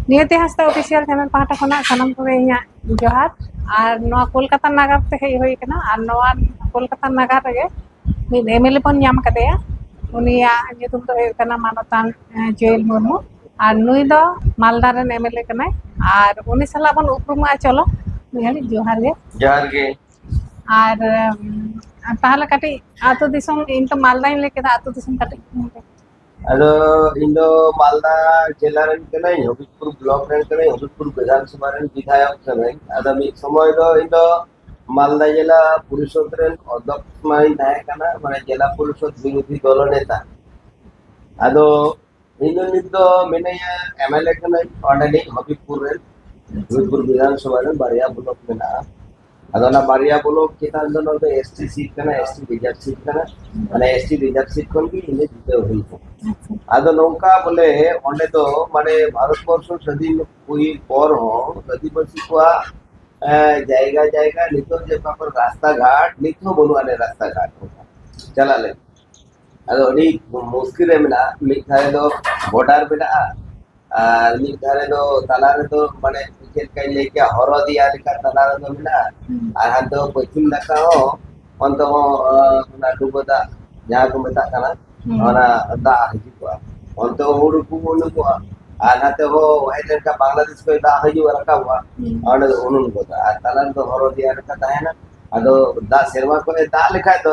ᱱᱤᱭᱟᱹᱛᱮ ᱦᱟᱸᱥᱫᱟ official channel ᱯᱟᱦᱴᱟ ᱠᱷᱚᱱᱟᱜ ᱥᱟᱱᱟᱢ ᱠᱚᱜᱮ ᱤᱧᱟᱹᱜ ᱡᱚᱦᱟᱨ ᱟᱨ ᱱᱚᱣᱟ ᱠᱳᱞᱠᱟᱛᱟ ᱱᱟᱜᱟᱨ ᱛᱮ ᱦᱮᱡ ᱦᱩᱭ ᱠᱟᱱᱟ ᱟᱨ ᱱᱚᱣᱟ ᱠᱳᱞᱠᱟᱛᱟ ᱱᱟᱜᱟᱨ ᱨᱮᱜᱮ ᱢᱤᱫ ᱮᱢ ᱮᱞ ᱮ ᱵᱚᱱ ᱧᱟᱢ ᱠᱟᱫᱮᱭᱟ ᱩᱱᱤᱭᱟᱜ ᱧᱩᱛᱩᱢ ᱫᱚ ᱦᱩᱭᱩᱜ ᱠᱟᱱᱟ ᱢᱟᱱᱚᱛᱟᱱ ᱡᱩᱭᱮᱞ ᱢᱩᱨᱢᱩ ᱟᱨ ᱱᱩᱭ ᱫᱚ ᱢᱟᱞᱫᱟ ᱨᱮᱱ ᱮᱢ ᱮᱞ ᱮ ᱠᱟᱱᱟᱭ ᱟᱨ ᱩᱱᱤ ᱥᱟᱞᱟᱜ ᱵᱚᱱ ᱩᱯᱨᱩᱢᱚᱜᱼᱟ ᱪᱚᱞᱚ ᱢᱤᱫ ᱜᱷᱟᱹᱲᱤᱡ ᱡᱚᱦᱟᱨ ᱜᱮ ᱡᱚᱦᱟᱨ ᱜᱮ ᱟᱨ ᱛᱟᱦᱚᱞᱮ ᱠᱟᱹᱴᱤᱡ ᱟᱹᱛᱩ ᱫᱤᱥᱚᱢ ᱤᱧ ᱛᱚ ᱢᱟᱞᱫᱟᱧ ᱞᱟᱹᱭ ᱠᱮᱫᱟ ᱟᱹᱛᱩ ᱫᱤᱥᱚᱢ ᱠᱟᱹᱴᱤᱡ ᱟᱫᱚ ᱤᱧ ᱫᱚ ᱢᱟᱞᱫᱟ ᱡᱮᱞᱟ ᱨᱮᱱ ᱠᱟᱹᱱᱟᱹᱧ ᱦᱚᱵᱤᱵᱽᱯᱩᱨ ᱵᱞᱚᱠ ᱨᱮᱱ ᱠᱟᱹᱱᱟᱹᱧ ᱦᱚᱵᱤᱵᱽᱯᱩᱨ ᱵᱤᱫᱷᱟᱱ ᱥᱚᱵᱷᱟ ᱨᱮᱱ ᱵᱤᱫᱷᱟᱭᱚᱠ ᱠᱟᱹᱱᱟᱹᱧ ᱟᱫᱚ ᱢᱤᱫ ᱥᱚᱢᱚᱭ ᱫᱚ ᱤᱧ ᱫᱚ ᱢᱟᱞᱫᱟ ᱡᱮᱞᱟ ᱯᱚᱨᱤᱥᱚᱫᱽ ᱨᱮᱱ ᱚᱫᱷᱚᱠᱥ ᱢᱟᱧ ᱛᱟᱦᱮᱸ ᱠᱟᱱᱟ ᱢᱟᱱᱮ ᱡᱮᱞᱟ ᱯᱚᱨᱤᱥᱚᱫᱽ ᱵᱤᱨᱚᱫᱷᱤ ᱫᱚᱞᱚ ᱱᱮᱛᱟ ᱟᱫᱚ ᱤᱧ ᱫᱚ ᱱᱤᱛ ᱫᱚ ᱢᱤᱱᱟᱹᱧᱟ ᱮᱢ ᱮᱞ ᱮ ᱠᱟᱹᱱᱟᱹᱧ ᱚᱸᱰᱮᱱᱤᱡ ᱦᱚᱵᱤᱵᱽᱯᱩᱨ ᱨᱮᱱ ᱦᱚᱵᱤᱵᱽᱯᱩᱨ ᱵᱤᱫᱷᱟᱱ ᱥᱚᱵᱷᱟ ᱨᱮᱱ ᱵᱟᱨᱭᱟ ᱵᱞᱚᱠ ᱢᱮᱱᱟᱜᱼᱟ ᱟᱫᱚ ᱵᱟᱨᱭᱟ ᱵᱚᱞᱚ ᱪᱮᱛᱟᱱ ᱫᱚ ᱱᱚᱣᱟ ᱫᱚ ᱮᱥᱴᱤ ᱥᱤᱴ ᱠᱟᱱᱟ ᱮᱥᱴᱤ ᱨᱤᱡᱟᱨᱵᱷ ᱥᱤᱴ ᱠᱟᱱᱟ ᱢᱟᱱᱮ ᱮᱥᱴᱤ ᱨᱤᱡᱟᱨᱵᱷ ᱥᱤᱴ ᱠᱷᱚᱱ ᱜᱮ ᱤᱧ ᱡᱤᱛᱟᱹᱣ ᱦᱩᱭ ᱠᱟᱱᱟ ᱟᱫᱚ ᱱᱚᱝᱠᱟ ᱵᱚᱞᱮ ᱚᱸᱰᱮ ᱫᱚ ᱢᱟᱱᱮ ᱵᱷᱟᱨᱚᱛ ᱵᱚᱨᱥᱚ ᱥᱟᱹᱫᱷᱤᱱ ᱦᱩᱭ ᱯᱚᱨ ᱦᱚᱸ ᱟᱹᱫᱤᱵᱟᱹᱥᱤ ᱠᱚᱣᱟᱜ ᱡᱟᱭᱜᱟ ᱡᱟᱭᱜᱟ ᱱᱤᱛᱚᱜ ᱡᱮ ᱚᱠᱟ ᱠᱚᱨᱮ ᱨᱟᱥᱛᱟ ᱜᱷᱟᱴ ᱱᱤᱛ ᱦᱚᱸ ᱵᱟᱹᱱᱩᱜ ᱟᱹᱱᱤᱡ ᱨᱟᱥᱛᱟ ᱜᱷᱟᱴ ᱪᱟᱞᱟᱜ ᱞᱟᱹᱜᱤᱫ ᱟᱫᱚ ᱟᱹᱰᱤ ᱢᱩᱥᱠᱤᱞ ᱨᱮ ᱢᱮᱱᱟᱜᱼᱟ ᱢᱤᱫ ᱫᱷᱟᱨᱮ ᱫᱚ ᱵᱚᱰᱟᱨ ᱢᱮᱱᱟᱜᱼᱟ ᱟᱨ ᱢᱤᱫ ᱫᱷᱟᱨᱮ ᱫᱚ ᱛᱟᱞᱟ ᱨᱮᱫᱚ ᱢᱟᱱᱮ ᱪᱮᱫ ᱞᱮᱠᱟᱧ ᱞᱟᱹᱭ ᱠᱮᱭᱟ ᱦᱚᱨᱚ ᱫᱮᱭᱟ ᱞᱮᱠᱟ ᱛᱟᱞᱟ ᱨᱮᱫᱚ ᱢᱮᱱᱟᱜᱼᱟ ᱟᱨ ᱦᱟᱱᱛᱮ ᱯᱚᱪᱷᱤᱢ ᱱᱟᱠᱷᱟ ᱦᱚᱸ ᱚᱱᱛᱮ ᱦᱚᱸ ᱚᱱᱟ ᱰᱩᱵᱟᱹ ᱫᱟᱜ ᱡᱟᱦᱟᱸ ᱠᱚ ᱢᱮᱛᱟᱜ ᱠᱟᱱᱟ ᱚᱱᱟ ᱫᱟᱜ ᱦᱤᱡᱩᱜᱼᱟ ᱚᱱᱛᱮ ᱦᱚᱸ ᱦᱩᱲᱩ ᱠᱚ ᱩᱱᱩᱢᱚᱜᱼᱟ ᱟᱨ ᱱᱟᱛᱮ ᱦᱚᱸ ᱦᱮᱡ ᱞᱮᱱᱠᱷᱟᱱ ᱵᱟᱝᱞᱟᱫᱮᱥ ᱠᱷᱚᱱ ᱫᱟᱜ ᱦᱤᱡᱩᱜᱼᱟ ᱨᱟᱠᱟᱵᱚᱜᱼᱟ ᱚᱸᱰᱮ ᱫᱚ ᱩᱱᱩᱢ ᱜᱚᱫᱚᱜᱼᱟ ᱟᱨ ᱛᱟᱞᱟ ᱨᱮᱫᱚ ᱦᱚᱨᱚ ᱫᱮᱭᱟ ᱞᱮᱠᱟ ᱛᱟᱦᱮᱱᱟ ᱟᱫᱚ ᱫᱟᱜ ᱥᱮᱨᱢᱟ ᱠᱷᱚᱱᱮ ᱫᱟᱜ ᱞᱮᱠᱷᱟᱡ ᱫᱚ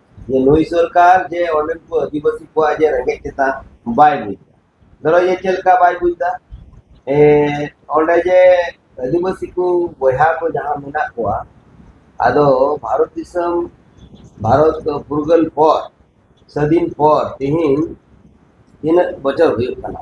ᱡᱮ ᱱᱩᱭ ᱥᱚᱨᱠᱟᱨ ᱡᱮ ᱚᱸᱰᱮᱱ ᱠᱚ ᱟᱹᱫᱤᱵᱟᱹᱥᱤ ᱠᱚᱣᱟᱜ ᱡᱮ ᱨᱮᱸᱜᱮᱡ ᱪᱮᱛᱟᱱ ᱵᱟᱭ ᱵᱩᱡᱽ ᱮᱫᱟ ᱫᱷᱚᱨᱚ ᱡᱮ ᱪᱮᱫ ᱞᱮᱠᱟ ᱵᱟᱭ ᱵᱩᱡᱽ ᱮᱫᱟ ᱚᱸᱰᱮ ᱡᱮ ᱟᱹᱫᱤᱵᱟᱹᱥᱤ ᱠᱚ ᱵᱚᱭᱦᱟ ᱠᱚ ᱡᱟᱦᱟᱸ ᱢᱮᱱᱟᱜ ᱠᱚᱣᱟ ᱟᱫᱚ ᱵᱷᱟᱨᱚᱛ ᱫᱤᱥᱚᱢ ᱵᱷᱟᱨᱚᱛ ᱯᱷᱩᱨᱜᱟᱹᱞ ᱯᱚᱨ ᱥᱟᱹᱫᱷᱤᱱ ᱯᱚᱨ ᱛᱮᱦᱤᱧ ᱛᱤᱱᱟᱹᱜ ᱵᱚᱪᱷᱚᱨ ᱦᱩᱭᱩᱜ ᱠᱟᱱᱟ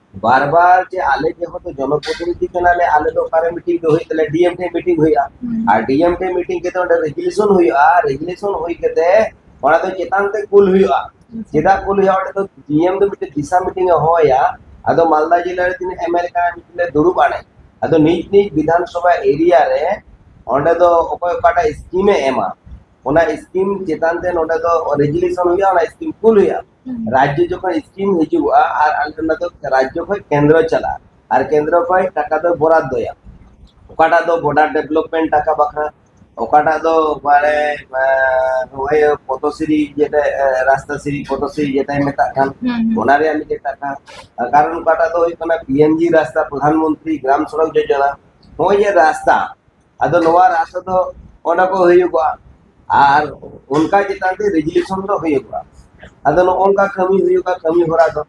ᱵᱟᱨ ᱵᱟᱨ ᱡᱮ ᱟᱞᱮ ᱡᱮᱦᱮᱛᱩ ᱡᱚᱱᱚᱯᱨᱚᱛᱤᱱᱤᱫᱷᱤ ᱠᱟᱱᱟᱞᱮ ᱟᱞᱮ ᱫᱚ ᱚᱠᱟᱨᱮ ᱢᱤᱴᱤᱝ ᱫᱚ ᱦᱩᱭᱩᱜ ᱛᱟᱞᱮᱭᱟ ᱰᱤᱮᱢ ᱴᱷᱮᱱ ᱢᱤᱴᱤᱝ ᱦᱩᱭᱩᱜᱼᱟ ᱟᱨ ᱰᱤᱮᱢ ᱴᱷᱮᱱ ᱢᱤᱴᱤᱝ ᱠᱟᱛᱮ ᱚᱸᱰᱮ ᱨᱮᱜᱩᱞᱮᱥᱚᱱ ᱦᱩᱭᱩᱜᱼᱟ ᱨᱮᱜᱩᱞᱮᱥᱚᱱ ᱦᱩᱭ ᱠᱟᱛᱮ ᱚᱱᱟ ᱫᱚ ᱪᱮᱛᱟᱱ ᱛᱮ ᱠᱩᱞ ᱦᱩᱭᱩᱜᱼᱟ ᱪᱮᱫᱟᱜ ᱠᱩᱞ ᱦᱩᱭᱩᱜᱼᱟ ᱚᱸᱰᱮ ᱫᱚ ᱰᱤᱮᱢ ᱫᱚ ᱢᱤᱫᱴᱮᱱ ᱫᱤᱥᱟ ᱢᱤᱴᱤᱝ ᱮ ᱦᱚᱦᱚᱭᱟ ᱟᱫᱚ ᱢᱟᱞᱫᱟ ᱡᱮᱞᱟ ᱨᱮ ᱛᱤᱱᱟᱹᱜ ᱮᱢᱮᱞᱮ ᱠᱟᱱᱟ ᱢᱤᱴᱤᱝ ᱞᱮ ᱫᱩᱲᱩᱵ ᱟᱞᱮ ᱟᱫᱚ ᱱᱤᱡ ᱱᱤᱡ ᱵᱤᱫᱷᱟᱱ ᱥᱚᱵᱷᱟ ᱮᱨᱤᱭᱟ ᱨᱮ ᱚᱸᱰᱮ ᱫᱚ ᱚᱠᱚᱭ ᱚᱠᱟᱴᱟᱜ ᱥᱠᱤᱢᱮ ᱮᱢᱟ ᱚᱱᱟ ᱥᱠᱤᱢ ᱪᱮᱛᱟᱱ ᱛᱮ ᱱᱚᱸᱰᱮ ᱫᱚ ᱨᱮᱜᱩᱞᱮᱥᱚᱱ ᱦᱩᱭᱩᱜᱼᱟ ᱚᱱᱟ ᱥᱠᱤᱢ ᱠᱩᱞ ᱦᱩᱭᱩᱜᱼᱟ ᱨᱟᱡᱽᱡᱚ ᱡᱚᱠᱷᱚᱱ ᱥᱠᱤᱢ ᱦᱤᱡᱩᱜᱼᱟ ᱟᱨ ᱟᱞᱮ ᱚᱱᱟ ᱫᱚ ᱨᱟᱡᱽᱡᱚ ᱠᱷᱚᱡ ᱠᱮᱱᱫᱨᱚ ᱪᱟᱞᱟᱜᱼᱟ ᱟᱨ ᱠᱮᱱᱫᱨᱚ ᱠᱷᱚᱡ ᱴᱟᱠᱟ ᱫᱚ ᱵᱚᱨᱟᱫᱫᱚᱭᱟ ᱚᱠᱟᱴᱟᱜ ᱫᱚ ᱵᱚᱰᱟᱨ ᱰᱮᱵᱷᱞᱚᱯᱢᱮᱱᱴ ᱴᱟᱠᱟ ᱵᱟᱠᱷᱨᱟ ᱚᱠᱟᱴᱟᱜ ᱫᱚ ᱢᱟᱱᱮ ᱱᱚᱜᱼᱚᱭ ᱯᱚᱫᱚᱥᱨᱤ ᱡᱮᱴᱟ ᱨᱟᱥᱛᱟᱥᱨᱤ ᱯᱚᱫᱚᱥᱨᱤ ᱡᱮᱴᱟᱭ ᱢᱮᱛᱟᱜ ᱠᱟᱱ ᱚᱱᱟ ᱨᱮᱭᱟᱜ ᱢᱤᱫᱴᱮᱡ ᱴᱟᱠᱟ ᱠᱟᱨᱚᱱ ᱚᱠᱟᱴᱟᱜ ᱫᱚ ᱦᱩᱭᱩᱜ ᱠᱟᱱᱟ ᱯᱤ ᱮᱢ ᱡᱤ ᱨᱟᱥᱛᱟ ᱯᱨᱚᱫᱷᱟᱱ ᱢᱚᱱᱛᱨᱤ ᱜᱨᱟᱢ ᱥᱚᱲᱚᱠ ᱡᱳᱡᱚᱱᱟ ᱱᱚᱜᱼᱚᱭ ᱡᱮ ᱨᱟᱥᱛᱟ ᱟᱫᱚ ᱱᱚᱣᱟ ᱨᱟᱥᱛᱟ ᱫᱚ ᱚᱱᱟ ᱠᱚ ᱦᱩᱭᱩᱜᱼᱟ ᱟᱨ ᱚᱱᱠᱟ ᱪᱮᱛᱟᱱ ᱛᱮ ᱨᱮᱡᱩᱞᱮᱥᱚᱱ ᱫᱚ ᱦᱩᱭᱩᱜᱼᱟ ᱟᱫᱚ ᱱᱚᱜᱼᱚ ᱱᱚᱝᱠᱟ ᱠᱟᱹᱢᱤ ᱦᱩᱭᱩᱜᱼᱟ ᱠᱟᱹᱢᱤ ᱦᱚᱨᱟ ᱫᱚ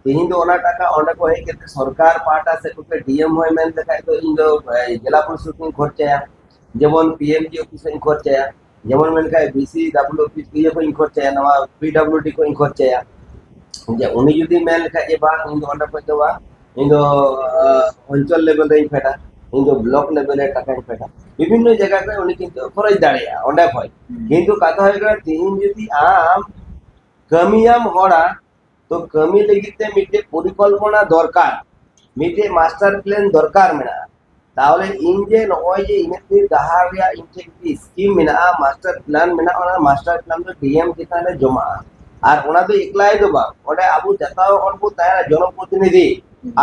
ᱛᱮᱦᱮᱧ ᱫᱚ ᱚᱱᱟ ᱴᱟᱠᱟ ᱚᱸᱰᱮ ᱠᱚ ᱦᱮᱡ ᱠᱟᱛᱮ ᱥᱚᱨᱠᱟᱨ ᱯᱟᱦᱴᱟ ᱥᱮᱫ ᱠᱷᱚᱱ ᱰᱤᱮᱢ ᱦᱚᱸᱭ ᱢᱮᱱ ᱞᱮᱠᱷᱟᱡ ᱫᱚ ᱤᱧ ᱫᱚ ᱡᱮᱞᱟ ᱯᱚᱨᱤᱥᱚᱫ ᱤᱧ ᱠᱷᱚᱨᱪᱟᱭᱟ ᱡᱮᱢᱚᱱ ᱯᱤ ᱮᱢ ᱡᱤ ᱚᱯᱷᱤᱥ ᱤᱧ ᱠᱷᱚᱨᱪᱟᱭᱟ ᱡᱮᱢᱚᱱ ᱢᱮᱱᱠᱷᱟᱡ ᱵᱤ ᱥᱤ ᱰᱟᱵᱞᱩ ᱯᱤ ᱤᱭᱟᱹ ᱠᱷᱚᱡ ᱤᱧ ᱠᱷᱚᱨᱪᱟᱭᱟ ᱱᱚᱣᱟ ᱯᱤ ᱰᱟᱵᱞᱩ ᱰᱤ ᱠᱷᱚᱡ ᱤᱧ ᱠᱷᱚᱨᱪᱟᱭᱟ ᱡᱮ ᱩᱱᱤ ᱡᱩᱫᱤ ᱢᱮᱱ ᱞᱮᱠᱷᱟᱡ ᱡᱮ ᱵᱟᱝ ᱤᱧ ᱫᱚ ᱚᱸᱰᱮ ᱠᱷᱚᱡ ᱫᱚ ᱵᱟᱝ ᱤᱧ ᱫᱚ ᱚᱧᱪᱚᱞ ᱞᱮᱵᱮᱞ ᱨᱮᱧ ᱯᱷᱮᱰᱟ ᱤᱧ ᱫᱚ ᱵᱞᱚᱠ ᱞᱮᱵᱮᱞ ᱨᱮ ᱴᱟᱠᱟᱧ ᱯᱷᱮᱰᱟ ᱵᱤᱵᱷᱤᱱᱱᱚ ᱡᱟᱭᱜᱟ ᱠᱷᱚᱡ ᱩᱱᱤ ᱠᱤᱱᱛᱩ ᱠᱷᱚᱨᱚᱪ ᱫᱟᱲᱮᱭᱟᱜᱼᱟ ᱚᱸᱰᱮ ᱠᱷᱚᱡ ᱠᱤᱱᱛᱩ ᱠᱟᱛᱷᱟ ᱦᱩᱭᱩᱜ ᱠᱟᱱᱟ ᱛᱤᱦᱤᱧ ᱡᱩᱫᱤ ᱟᱢ ᱠᱟᱹᱢᱤᱭᱟᱢ ᱦᱚᱲᱟᱜ ᱛᱚ ᱠᱟᱹᱢᱤ ᱞᱟᱹᱜᱤᱫ ᱛᱮ ᱢᱤᱫᱴᱮᱡ ᱯᱚᱨᱤᱠᱚᱞᱯᱚᱱᱟ ᱫᱚᱨᱠᱟᱨ ᱢᱤᱫᱴᱮᱡ ᱢᱟᱥᱴᱟᱨ ᱯᱞᱟᱱ ᱫᱚᱨᱠᱟᱨ ᱢᱮᱱᱟᱜᱼᱟ ᱛᱟᱦᱚᱞᱮ ᱤᱧ ᱡᱮ ᱱᱚᱜᱼᱚᱭ ᱡᱮ ᱤᱧᱟᱹᱜ ᱛᱮ ᱰᱟᱦᱟᱨ ᱨᱮᱭᱟᱜ ᱤᱧ ᱴᱷᱮᱱ ᱢᱤᱫᱴᱮᱡ ᱥᱠᱤᱢ ᱢᱮᱱᱟᱜᱼᱟ ᱢᱟᱥᱴᱟᱨ ᱯᱞᱟᱱ ᱢᱮᱱᱟᱜᱼᱟ ᱚᱱᱟ ᱢᱟᱥᱴᱟᱨ ᱯᱞᱟᱱ ᱫᱚ ᱰᱤᱮᱢ ᱪᱮᱛᱟᱱ ᱨᱮ ᱡᱚᱢᱟᱜᱼᱟ ᱟᱨ ᱚᱱᱟ ᱫᱚ ᱮᱠᱞᱟᱭ ᱫᱚ ᱵᱟᱝ ᱚᱸᱰᱮ ᱟᱵᱚ ᱡᱚᱛᱚ ᱦᱚᱲ ᱵᱚ ᱛᱟᱦᱮᱱᱟ ᱡᱚᱱᱚᱯᱨᱚᱛᱤᱱᱤᱫᱷᱤ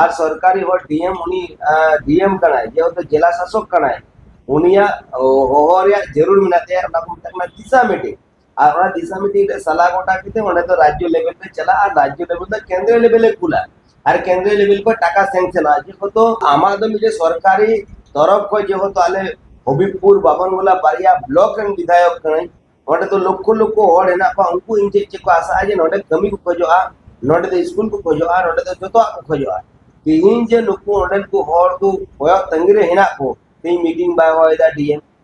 ᱟᱨ ᱥᱚᱨᱠᱟᱨᱤ ᱦᱚᱲ ᱰᱤᱮᱢ ᱩᱱᱤ ᱰᱤᱮᱢ ᱠᱟᱱᱟᱭ ᱡᱮᱦᱮᱛᱩ ᱡᱮᱞᱟ ᱥᱟᱥᱚᱠ ᱠᱟᱱᱟᱭ ᱩᱱᱤᱭᱟᱜ ᱦᱚᱦᱚ ᱨᱮᱭᱟᱜ ᱡᱟᱹᱨᱩᱲ ᱢᱮᱱᱟᱜ ᱛᱟᱭᱟ ᱚᱱᱟ ᱠᱚ ᱢᱮᱛᱟᱜ ᱠᱟᱱᱟ ᱫᱤᱥᱟ ᱢᱤᱴᱤᱝ ᱟᱨ ᱚᱱᱟ ᱫᱤᱥᱟ ᱢᱤᱴᱤᱝ ᱨᱮ ᱥᱟᱞᱟ ᱜᱚᱴᱟ ᱠᱟᱛᱮ ᱚᱸᱰᱮ ᱫᱚ ᱨᱟᱡᱽᱡᱚ ᱞᱮᱵᱮᱞ ᱨᱮ ᱪᱟᱞᱟᱜᱼᱟ ᱟᱨ ᱨᱟᱡᱽᱡᱚ ᱞᱮᱵᱮᱞ ᱫᱚ ᱠᱮᱱᱫᱨᱚ ᱞᱮᱵᱮᱞ ᱨᱮ ᱠᱩᱞᱟ ᱟᱨ ᱠᱮᱱᱫᱨᱚ ᱞᱮᱵᱮᱞ ᱠᱷᱚᱱ ᱴᱟᱠᱟ ᱥᱮᱝᱥᱚᱱᱚᱜᱼᱟ ᱡᱮᱦᱮᱛᱩ ᱟᱢᱟᱜ ᱫᱚ ᱢᱤᱫᱴᱮᱱ ᱥᱚᱨᱠᱟᱨᱤ ᱛᱚᱨᱚᱯ ᱠᱷᱚᱱ ᱡᱮᱦᱮᱛᱩ ᱟᱞᱮ ᱦᱚᱵᱤᱵᱽᱯᱩᱨ ᱵᱟᱵᱚᱱᱜᱳᱞᱟ ᱵᱟᱨᱭᱟ ᱵᱞᱚᱠ ᱨᱮᱱ ᱵᱤᱫᱷᱟᱭᱚᱠ ᱠᱟᱹᱱᱟᱹᱧ ᱚᱸᱰᱮ ᱫᱚ ᱞᱚᱠᱠᱷᱚ ᱞᱚᱠᱠᱷᱚ ᱦᱚᱲ ᱦᱮᱱᱟᱜ ᱠᱚᱣᱟ ᱩᱱᱠᱩ ᱤᱧ ᱪᱮᱫ ᱪᱮᱫ ᱠᱚ ᱟᱥᱟᱜᱼᱟ ᱡᱮ ᱱᱚᱸᱰᱮ ᱠᱟᱹᱢᱤ ᱠᱚ ᱠᱷᱚᱡᱚᱜᱼᱟ ᱱᱚᱸᱰᱮ ᱫᱚ ᱥᱠᱩᱞ ᱠᱚ ᱠᱷᱚᱡᱚᱜᱼᱟ ᱱᱚᱸᱰᱮ ᱫᱚ ᱡᱚᱛᱚᱣᱟᱜ ᱠᱚ ᱠᱷᱚᱡᱚᱜᱼᱟ ᱛᱮᱦᱮᱧ ᱡᱮ ᱱᱩᱠᱩ ᱚᱸᱰᱮᱱ ᱠᱚ ᱦᱚᱲ ᱠᱚ ᱠᱚᱭᱚᱜ ᱛᱟᱺᱜᱤ ᱨᱮ ᱦᱮᱱᱟᱜ ᱠᱚ ᱛᱮᱦᱮᱧ ᱢᱤᱴᱤᱝ ᱵᱟᱭ ᱦᱚᱦᱚᱭᱮᱫᱟ ᱰᱤ ᱮᱢ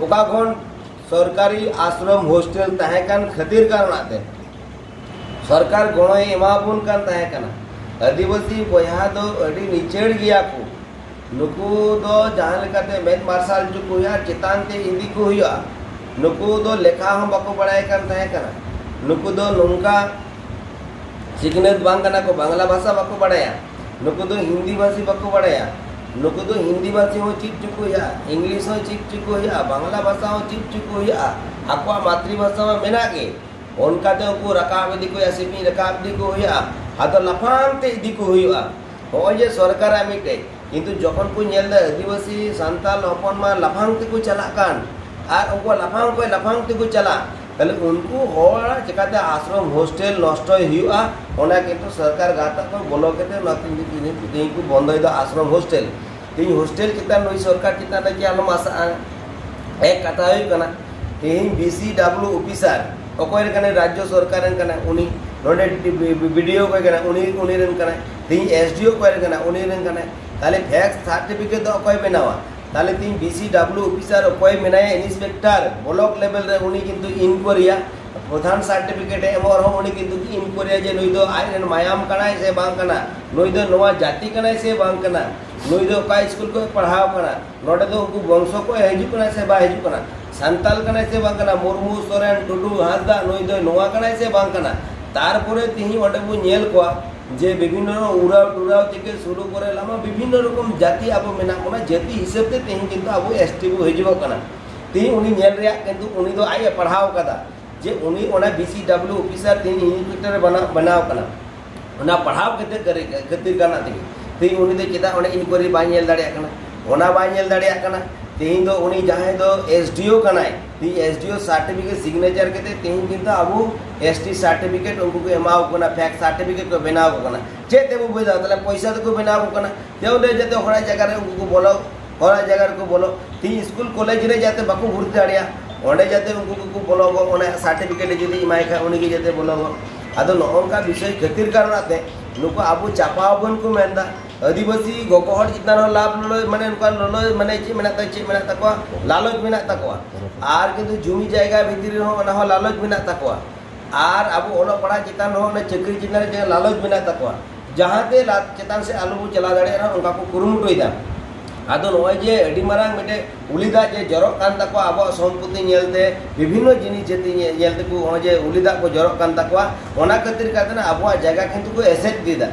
ᱚᱠᱟ ᱠᱷᱚᱱ ᱥᱚᱨᱠᱟᱨᱤ ᱟᱥᱨᱚᱢ ᱦᱳᱥᱴᱮᱞ ᱛᱟᱦᱮᱸ ᱠᱟᱱ ᱠᱷᱟᱹᱛᱤᱨ ᱠᱟᱨᱚᱱᱟᱜ ᱛᱮ ᱥᱚᱨᱠᱟᱨ ᱜᱚᱲᱚᱭ ᱮᱢᱟᱵᱚᱱ ᱠᱟᱱ ᱛᱟᱦᱮᱸ ᱠᱟᱱᱟ ᱟᱹᱫᱤᱵᱟᱹᱥᱤ ᱵᱚᱭᱦᱟ ᱫᱚ ᱟᱹᱰᱤ ᱱᱤᱪᱟᱹᱲ ᱜᱮᱭᱟ ᱠᱚ ᱱᱩᱠᱩ ᱫᱚ ᱡᱟᱦᱟᱸ ᱞᱮᱠᱟᱛᱮ ᱢᱮᱫ ᱢᱟᱨᱥᱟᱞ ᱦᱚᱪᱚ ᱠᱚ ᱦᱩᱭᱩᱜᱼᱟ ᱪᱮᱛᱟᱱ ᱛᱮ ᱤᱫᱤ ᱠᱚ ᱦᱩᱭᱩᱜᱼᱟ ᱱᱩᱠᱩ ᱫᱚ ᱞᱮᱠᱷᱟ ᱦᱚᱸ ᱵᱟᱠᱚ ᱵᱟᱲᱟᱭ ᱠᱟᱱ ᱛᱟᱦᱮᱸ ᱠᱟᱱᱟ ᱱᱩᱠᱩ ᱫᱚ ᱱᱚᱝᱠᱟ ᱥᱤᱠᱷᱱᱟᱹᱛ ᱵᱟᱝ ᱠᱟᱱᱟ ᱠᱚ ᱵᱟᱝᱞᱟ ᱵᱷᱟᱥᱟ ᱵᱟᱠᱚ ᱵᱟᱲᱟᱭᱟ ᱱᱩᱠᱩ ᱫᱚ ᱦᱤᱱᱫᱤ ᱵᱷᱟᱥᱤ ᱵᱟᱠᱚ ᱵᱟᱲᱟᱭᱟ ᱱᱩᱠᱩ ᱫᱚ ᱦᱤᱱᱫᱤ ᱵᱷᱟᱥᱤ ᱦᱚᱸ ᱪᱮᱫ ᱪᱚ ᱠᱚ ᱦᱩᱭᱩᱜᱼᱟ ᱤᱝᱞᱤᱥ ᱦᱚᱸ ᱪᱮᱫ ᱪᱚ ᱠᱚ ᱦᱩᱭᱩᱜᱼᱟ ᱵᱟᱝᱞᱟ ᱵᱷᱟᱥᱟ ᱦᱚᱸ ᱪᱮᱫ ᱪᱚ ᱠᱚ ᱦᱩᱭᱩᱜᱼᱟ ᱟᱠᱚᱣᱟᱜ ᱢᱟᱛᱨᱤ ᱵᱷᱟᱥᱟ ᱢᱟ ᱢᱮᱱᱟᱜ ᱜᱮ ᱚᱱᱠᱟᱛᱮ ᱩᱱᱠᱩ ᱨᱟᱠᱟᱵ ᱤᱫᱤ ᱠᱚ ᱦᱩᱭᱩᱜᱼᱟ ᱥᱤᱯᱤᱧ ᱨᱟᱠᱟᱵ ᱤᱫᱤ ᱠᱚ ᱦᱩᱭᱩᱜᱼᱟ ᱟᱫᱚ ᱞᱟᱯᱷᱟᱝ ᱛᱮ ᱤᱫᱤ ᱠᱚ ᱦᱩᱭᱩᱜᱼᱟ ᱱᱚᱜᱼᱚᱭ ᱡᱮ ᱥᱚᱨᱠᱟᱨᱟᱜ ᱢᱤᱫᱴᱮᱡ ᱠᱤᱱᱛᱩ ᱡᱚᱠᱷᱚᱱ ᱠᱚ ᱧᱮᱞ ᱮᱫᱟ ᱟᱹᱫᱤᱵᱟᱹᱥᱤ ᱥᱟᱱᱛᱟᱞ ᱦᱚᱯᱚᱱ ᱢᱟ ᱞᱟᱯᱷᱟᱝ ᱛᱮᱠᱚ ᱪᱟᱞᱟᱜ ᱠᱟᱱ ᱟᱨ ᱩᱱᱠᱩ ᱞᱟᱯᱷᱟᱝ ᱠᱷᱚᱱ ᱞᱟᱯᱷᱟᱝ ᱛᱮᱠᱚ ᱪᱟᱞᱟᱜ ᱛᱟᱦᱞᱮ ᱩᱱᱠᱩ ᱦᱚᱲᱟᱜ ᱪᱮᱠᱟᱛᱮ ᱟᱥᱨᱚᱢ ᱦᱳᱥᱴᱮᱞ ᱱᱚᱥᱴᱚᱭ ᱦᱩᱭᱩᱜᱼᱟ ᱚᱱᱟ ᱠᱤᱱᱛᱩ ᱥᱚᱨᱠᱟᱨ ᱜᱟᱶᱛᱟ ᱠᱚ ᱵᱚᱞᱚ ᱠᱟᱛᱮ ᱚᱱᱟ ᱛᱮᱦᱮᱧ ᱠᱚ ᱵᱚᱱᱫᱚᱭᱮᱫᱟ ᱟᱥᱨᱚᱢ ᱦᱳᱥᱴᱮᱞ ᱛᱮᱦᱮᱧ ᱦᱳᱥᱴᱮᱞ ᱪᱮᱛᱟᱱ ᱱᱩᱭ ᱥᱚᱨᱠᱟᱨ ᱪᱮᱛᱟᱱ ᱨᱮ ᱪᱮᱫ ᱟᱞᱚᱢ ᱟᱥᱟᱜᱼᱟ ᱮᱠ ᱠᱟᱛᱷᱟ ᱦᱩᱭᱩᱜ ᱠᱟᱱᱟ ᱛᱮᱦᱮᱧ ᱵᱤ ᱥᱤ ᱰᱟᱵᱞᱩ ᱚᱯᱷᱤᱥᱟᱨ ᱚᱠᱚᱭ ᱨᱮᱱ ᱠᱟᱱᱟᱭ ᱨᱟᱡᱽᱡᱚ ᱥᱚᱨᱠᱟᱨ ᱨᱮᱱ ᱠᱟᱱᱟᱭ ᱩᱱᱤ ᱱᱚᱰᱮ ᱵᱤᱰᱤᱳ ᱚᱠᱚᱭ ᱠᱟᱱᱟᱭ ᱩᱱᱤ ᱩᱱᱤ ᱨᱮᱱ ᱠᱟᱱᱟᱭ ᱛᱮᱦᱮᱧ ᱮᱥ ᱰᱤ ᱳ ᱚᱠᱚᱭ ᱨᱮᱱ ᱠᱟᱱᱟᱭ ᱩᱱᱤ ᱨᱮᱱ ᱠᱟᱱᱟᱭ ᱛᱟᱦᱞᱮ ᱵᱷᱮᱠᱥ ᱥᱟᱨᱴᱤᱯᱷᱤᱠᱮᱴ ᱫᱚ ᱚᱠᱚᱭ ᱵᱮᱱᱟᱣᱟ ᱛᱟᱦᱞᱮ ᱛᱤᱦᱤᱧ ᱵᱤᱥᱤ ᱰᱟᱵᱞᱩ ᱚᱯᱷᱤᱥᱟᱨ ᱚᱠᱚᱭ ᱢᱮᱱᱟᱭᱟ ᱤᱱᱥᱯᱮᱠᱴᱟᱨ ᱵᱞᱚᱠ ᱞᱮᱵᱮᱞ ᱨᱮ ᱩᱱᱤ ᱠᱤᱱᱛᱩ ᱤᱱᱠᱩᱭᱟᱨᱤᱭᱟ ᱯᱨᱚᱫᱷᱟᱱ ᱥᱟᱨᱴᱤᱯᱷᱤᱠᱮᱴ ᱮᱢᱚᱜ ᱨᱮᱦᱚᱸ ᱩᱱᱤ ᱠᱤᱱᱛᱩ ᱤᱱᱠᱩᱭᱟᱨᱤᱭᱟ ᱡᱮ ᱱᱩᱭ ᱫᱚ ᱟᱡ ᱨᱮᱱ ᱢᱟᱭᱟᱢ ᱠᱟᱱᱟᱭ ᱥᱮ ᱵᱟᱝ ᱠᱟᱱᱟ ᱱᱩᱭ ᱫᱚ ᱱᱚᱣᱟ ᱡᱟᱹᱛᱤ ᱠᱟᱱᱟᱭ ᱥᱮ ᱵᱟᱝ ᱠᱟᱱᱟ ᱱᱩᱭ ᱫᱚ ᱚᱠᱟ ᱥᱠᱩᱞ ᱠᱚᱭ ᱯᱟᱲᱦᱟᱣ ᱠᱟᱱᱟ ᱱᱚᱰᱮ ᱫᱚ ᱩᱱᱠᱩ ᱵᱚᱝᱥᱚ ᱠᱚᱭ ᱦᱤᱡᱩᱜ ᱠᱟᱱᱟ ᱥᱮ ᱵᱟᱭ ᱦᱤᱡᱩᱜ ᱠᱟᱱᱟ ᱥᱟᱱᱛᱟᱞ ᱠᱟᱱᱟᱭ ᱥᱮ ᱵᱟᱝ ᱠᱟᱱᱟ ᱢᱩᱨᱢᱩ ᱥᱚᱨᱮᱱ ᱴᱩᱰᱩ ᱦᱟᱸᱥᱫᱟ ᱱᱩᱭ ᱫᱚ ᱱᱚᱣᱟ ᱠᱟᱱᱟᱭ ᱥᱮ ᱵᱟᱝ ᱠᱟᱱᱟ ᱛᱟᱨᱯᱚᱨᱮ ᱛᱤᱦᱤᱧ ᱚᱸᱰᱮ ᱵᱚ ᱧᱮᱞ ᱠᱚᱣᱟ ᱡᱮ ᱵᱤᱵᱷᱤᱱᱱ ᱨᱚᱠᱚᱢ ᱩᱨᱟᱣ ᱴᱩᱨᱟᱣ ᱛᱷᱮᱠᱮ ᱥᱩᱨᱩ ᱠᱚᱨᱮ ᱞᱟᱢᱟ ᱵᱤᱵᱷᱤᱱᱱ ᱨᱚᱠᱚᱢ ᱡᱟᱹᱛᱤ ᱟᱵᱚ ᱢᱮᱱᱟᱜ ᱵᱚᱱᱟ ᱡᱟᱹᱛᱤ ᱦᱤᱥᱟᱹᱵ ᱛᱮ ᱛᱮᱦᱮᱧ ᱠᱤᱱᱛᱩ ᱟᱵᱚ ᱮᱥᱴᱤ ᱵᱚ ᱦᱤᱡᱩᱜᱚᱜ ᱠᱟᱱᱟ ᱛᱮᱦᱮᱧ ᱩᱱᱤ ᱧᱮᱞ ᱨᱮᱭᱟᱜ ᱠᱤᱱᱛᱩ ᱩᱱᱤ ᱫᱚ ᱟᱡ ᱮ ᱯᱟᱲᱦᱟᱣ ᱠᱟᱫᱟ ᱡᱮ ᱩᱱᱤ ᱚᱱᱟ ᱵᱤᱥᱤ ᱰᱟᱵᱞᱤᱭᱩ ᱚᱯᱷᱤᱥᱟᱨ ᱛᱮᱦᱮᱧ ᱤᱱᱥᱯᱮᱠᱴᱚᱨ ᱵᱮᱱᱟᱣ ᱠᱟᱱᱟ ᱚᱱᱟ ᱯᱟᱲᱦᱟᱣ ᱠᱟᱛᱮ ᱠᱷᱟᱹᱛᱤᱨ ᱠᱟᱱᱟ ᱛᱮᱜᱮ ᱛᱮᱦᱮᱧ ᱩᱱᱤ ᱫᱚ ᱪᱮᱫᱟᱜ ᱚᱸᱰᱮ ᱤᱱᱠᱩᱭᱟᱨᱤ ᱵᱟᱭ ᱧᱮᱞ ᱫᱟᱲᱮᱭᱟᱜ ᱠᱟᱱᱟ ᱚᱱᱟ ᱵᱟᱭ ᱧᱮᱞ ᱫᱟᱲᱮᱭᱟᱜ ᱠᱟᱱᱟ ᱛᱮᱦᱮᱧ ᱫᱚ ᱩᱱᱤ ᱡᱟᱦᱟᱸᱭ ᱫᱚ ᱮᱥᱰᱤᱳ ᱠᱟᱱᱟᱭ ᱛᱮᱦᱮᱧ S D O certificate signature ᱠᱟᱛᱮ ᱛᱮᱦᱮᱧ ᱠᱤᱱᱛᱩ ᱟᱵᱚ ᱮᱥ ᱴᱤ ᱥᱟᱨᱴᱤᱯᱷᱤᱠᱮᱴ ᱩᱱᱠᱩ ᱠᱚ ᱮᱢᱟᱣ ᱠᱟᱱᱟ ᱯᱷᱮᱠ ᱥᱟᱨᱴᱤᱯᱷᱤᱠᱮᱴ ᱠᱚ ᱵᱮᱱᱟᱣ ᱠᱟᱱᱟ ᱪᱮᱫ ᱛᱮᱵᱚ ᱵᱩᱡᱷᱟᱹᱣ ᱛᱟᱦᱞᱮ ᱯᱚᱭᱥᱟ ᱛᱮᱠᱚ ᱵᱮᱱᱟᱣ ᱠᱟᱱᱟ ᱡᱮ ᱚᱸᱰᱮ ᱡᱟᱛᱮ ᱦᱚᱲᱟᱜ ᱡᱟᱭᱜᱟ ᱨᱮ ᱩᱱᱠᱩ ᱠᱚ ᱵᱚᱞᱚ ᱦᱚᱲᱟᱜ ᱡᱟᱭᱜᱟ ᱨᱮᱠᱚ ᱵᱚᱞᱚ ᱛᱮᱦᱮᱧ ᱥᱠᱩᱞ ᱠᱚᱞᱮᱡᱽ ᱨᱮ ᱡᱟᱛᱮ ᱵᱟᱠᱚ ᱵᱷᱩᱨᱛᱤ ᱫᱟᱲᱮᱭᱟᱜ ᱚᱸᱰᱮ ᱡᱟᱛᱮ ᱩᱱᱠᱩ ᱠᱚᱠᱚ ᱵᱚᱞᱚ ᱜᱚᱜ ᱚᱱᱟ ᱥᱟᱨᱴᱤᱯᱷᱤᱠᱮᱴ ᱡᱩᱫᱤ ᱮᱢᱟᱭ ᱠᱷᱟᱱ ᱩᱱᱤᱜᱮ ᱡᱟᱛᱮ ᱵᱚᱞᱚ ᱜᱚᱜ ᱟᱫᱚ ᱱᱚᱜᱼᱚ ᱱᱚᱝᱠᱟ ᱵᱤᱥᱚᱭ ᱠᱷᱟᱹᱛᱤᱨ ᱠᱟᱨᱚᱱᱟᱜ ᱛᱮ ᱱᱩᱠᱩ ᱟᱵᱚ ᱪᱟᱯᱟᱣ ᱵᱚᱱ ᱠᱚ ᱢᱮᱱᱫᱟ ᱟᱹᱫᱤᱵᱟᱹᱥᱤ ᱜᱚᱜᱚ ᱦᱚᱲ ᱪᱮᱛᱟᱱ ᱨᱮᱦᱚᱸ ᱞᱟᱵᱷ ᱞᱚᱞᱚᱭ ᱢᱟᱱᱮ ᱚᱱᱠᱟᱱ ᱞᱚᱞᱚᱭ ᱢᱟᱱᱮ ᱪᱮᱫ ᱢᱮᱱᱟᱜ ᱛᱟᱠᱚᱣᱟ ᱪᱮᱫ ᱢᱮᱱᱟᱜ ᱛᱟᱠᱚᱣᱟ ᱞᱟᱞᱚᱪ ᱢᱮᱱᱟᱜ ᱛᱟᱠᱚᱣᱟ ᱟᱨ ᱠᱤᱱᱛᱩ ᱡᱩᱢᱤ ᱡᱟᱭᱜᱟ ᱵᱷᱤᱛᱨᱤ ᱨᱮᱦᱚᱸ ᱚᱱᱟ ᱦᱚᱸ ᱞᱟᱞᱚᱪ ᱢᱮᱱᱟᱜ ᱛᱟᱠᱚᱣᱟ ᱟᱨ ᱟᱵᱚ ᱚᱞᱚᱜ ᱯᱟᱲᱦᱟᱜ ᱪᱮᱛᱟᱱ ᱨᱮᱦᱚᱸ ᱚᱱᱟ ᱪᱟᱹᱠᱨᱤ ᱪᱮᱛᱟᱱ ᱨᱮ ᱡᱟᱦᱟᱸ ᱞᱟᱞᱚᱪ ᱢᱮᱱᱟᱜ ᱛᱟᱠᱚᱣᱟ ᱡᱟᱦᱟᱸᱛᱮ ᱪᱮᱛᱟᱱ ᱥᱮᱫ ᱟᱞᱚ ᱵᱚ ᱪᱟᱞᱟᱣ ᱫᱟᱲᱮᱭᱟᱜ ᱨᱮᱦᱚᱸ ᱚᱱᱠᱟ ᱠᱚ ᱠᱩᱨᱩᱢᱩᱴᱩᱭᱮᱫᱟ ᱟᱫᱚ ᱱᱚᱜᱼᱚᱭ ᱡᱮ ᱟᱹᱰᱤ ᱢᱟᱨᱟᱝ ᱢᱤᱫᱴᱮᱡ ᱩᱞᱤ ᱫᱟᱜ ᱡᱮ ᱡᱚᱨᱚᱜ ᱠᱟᱱ ᱛᱟᱠᱚᱣᱟ ᱟᱵᱚᱣᱟᱜ ᱥᱚᱢᱯᱚᱛᱤ ᱧᱮᱞᱛᱮ ᱵᱤᱵᱷᱤᱱᱱᱚ ᱡᱤᱱᱤᱥ ᱡᱟᱹᱛᱤ ᱧᱮᱞ ᱛᱮᱠᱚ ᱱᱚᱜᱼᱚᱭ ᱡᱮ ᱩᱞᱤ ᱫᱟᱜ ᱠᱚ ᱡᱚᱨᱚᱜ ᱠᱟᱱ ᱛᱟᱠᱚᱣᱟ ᱚᱱᱟ ᱠᱷᱟᱹᱛᱤᱨ ᱠᱟᱛᱮ ᱟᱵᱚᱣᱟᱜ ᱡᱟᱭᱜᱟ ᱠᱤᱱᱛᱩ ᱠᱚ ᱮᱥᱮᱫ ᱤᱫᱤᱭᱮᱫᱟ